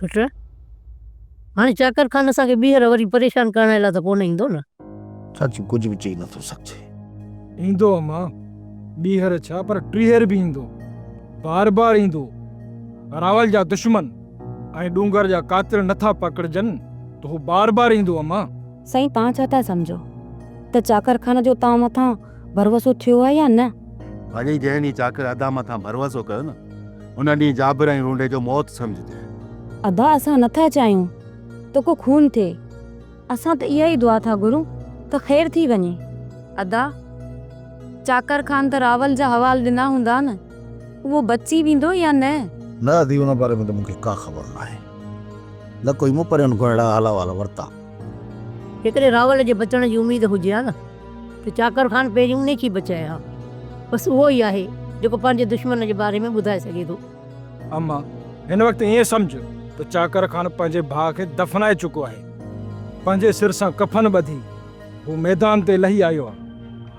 پٽ! هاڻي چاڪر خان اسان کي ٻيهر وري پريشان ڪرڻ لاء ته ڪونه ايندو نه؟ چاچي ڪجهه به چئي نٿو سگهجي. ايندو اما، ٻيهر ڇا پر ٽيهر به ايندو. بار بار ايندو. اراول جا دشمن ۽ ڏونگر جا قاتل نٿا پڪڙجن ته هو بار بار ايندو اما. سائين توهان ڇا ٿا سمجهو ته چاڪر خان جو توهان مٿان ڀروسو ٿيو آهي يا نه؟ ڀلي جنهن ڏينهن چاڪر ادا مٿان ڀروسو ڪيو نه، ان ڏينهن جابر ۽ رونڊي جو موت سمجهجي. ادا اسان نه ٿا چاهيون ته ڪو خون ٿئي. اسان ته اها ئي دعا ٿا گهرون ته خير ٿي وڃي. ادا چاڪر خان ته راول جا حوال ڏنا هوندا نه، اهو بچي ويندو يا نه؟ نه ادي ان باري ۾ ته مون کي ڪا خبر ناهي، نه ڪوئي مون پرين کان اهڙا حال احوال ورتا. جيڪڏهن راول جي بچڻ جي اميد هجي ها نه. ته چاڪر خان پهريون انهي کي بچائي ها. بس اهو ئي آهي جيڪو پنهنجي دشمن جي باري ۾ ٻڌائي سگهي ٿو. اما، هن وقت ائين سمجهه ته چاڪر خان پنهنجي ڀاء کي دفنائي چڪو آهي. پنهنجي سر سان ڪفن ٻڌي هو ميدان تي لهي آيو آهي.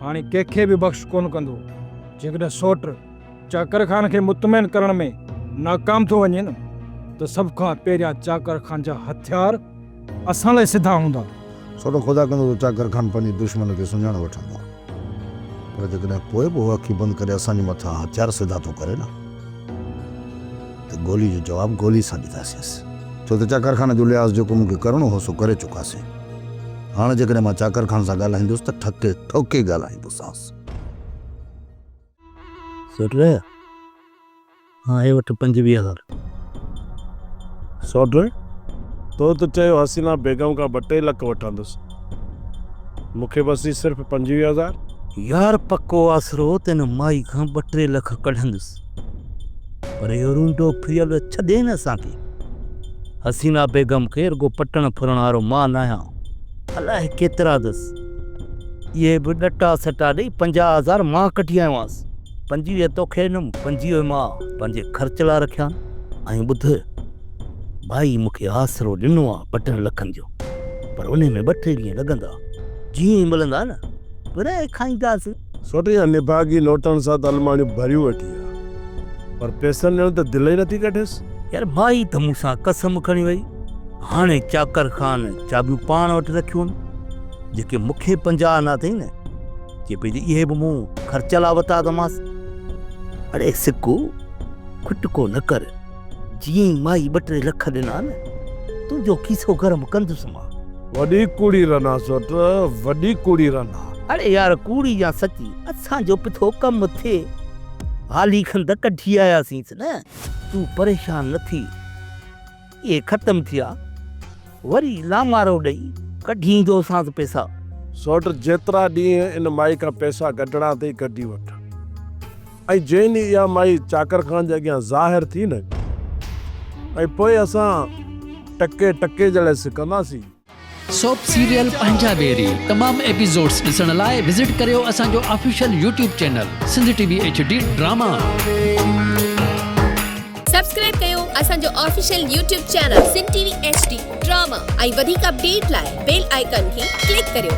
هاڻي ڪنهن کي به بخش ڪونه ڪندو. جيڪڏهن سوٽ چاڪر خان کي مطمئن ڪرڻ ۾ ناڪام ٿو وڃي نه ته سڀ کان پهريان چاڪر خان جا هٿيار اسان لاء سڌا هوندا. ڇو ته خدا ڪندو ته چاڪر کان پنهنجي دشمن کي سڃاڻي وٺندو آهي. پر جيڪڏهن پوء به هو اکيون بند ڪري اسان جي مٿان هٿيار سڌا ٿو ڪري نه ته گولي جو جواب گولي سان ڏينداسينس. ڇو ته چاڪر خان جو لحاظ جيڪو مون کي ڪرڻو هو سو ڪري چڪاسين. هاڻ جيڪڏهن مان چاڪر خان سان ڳالهائيندس ته ٺڪي ٺوڪي ڳالهائيندوسانس. سوٽ رهيا. آهي وٺ پنجويهه هزار سوڍو تو ته چيو حسينه بيگم کان ٻه ٽي لک وٺندس مون کي بس هي صرف پنجويهه هزار. يار پڪو آسرو تنهن مائي کان ٻه ٽي لک ڪڍندس پر اهو رونڊو ڦريل ڇڏي نه اسان کي حسينه بيگم کي رڳو پٽڻ ڦرڻ وارو مان آهيان الائي ڪيترا اٿس اهي به ڏٽا سٽا ڏئي پنجاهه هزار مان ڪڍي آيومانس. پنجويهه توکي ڏنم، پنجويهه مان پنهنجي خرچ لاء رکيا آهن ۽ ٻڌ، ڀائي مون کي آسرو ڏنو آهي ٻه ٽن لکن جو، پر انهي ۾ ٻه ٽي ڏينهن لڳندا، جيئن ئي ملندا نه، ورهائي کائينداسين. سوٽي جا نڀاڳي نوٽن سان ته الماڙيون ڀريون ويٺي آهي، پر پئسن ڏيڻ ته دل ئي نٿي ڪڍيس. يار مائي ته مون سان قسم کڻي وئي، هاڻي چاڪر خان چاٻيون پاڻ وٽ رکيون، جيڪي مون کي پنجاهه آنا اٿئي نه، چئي پئي ته اهي به مون خرچ لاء وتا اٿمانس. اڙي سڪو کٽڪو نه ڪر، جيئن ئي مائي ٻه ٽي لک ڏنا نه، تنهنجو کيسو گرم ڪندس مان. وڏي ڪوڙي رنا سوٽ، وڏي ڪوڙي رنا. اڙي يار ڪوڙي يا سچي، اسان جو به ٿو ڪم ٿئي. هالي کن ته ڪڍي آياسينس نه، تون پريشان نه ٿي. اهي ختم ٿيا وري لامارو ڏئي ڪڍي ايندوسانس پئسا. سوٽ جيترا ڏينهن ان مائي کان پئسا ڪڍڻا اٿئي ڪڍي وٺ ۽ جنهن ڏينهن اها مائي چاڪر خان جي اڳيان ظاهر ٿي نه ۽ پوء اسان ٽڪي ٽڪي جهڙي سڪنداسين. سوپ سيريل پنهنجا بيري تمام ايپيزوڊس ڏسڻ لاء وزٽ ڪريو اسان جو official YouTube channel Sindh T V H D drama. Subscribe ڪيو اسان جو official YouTube channel Sindh T V H D drama ۽ وڌيڪ اپڊيٽ لاء بيل آئيڪان کي ڪلڪ ڪريو.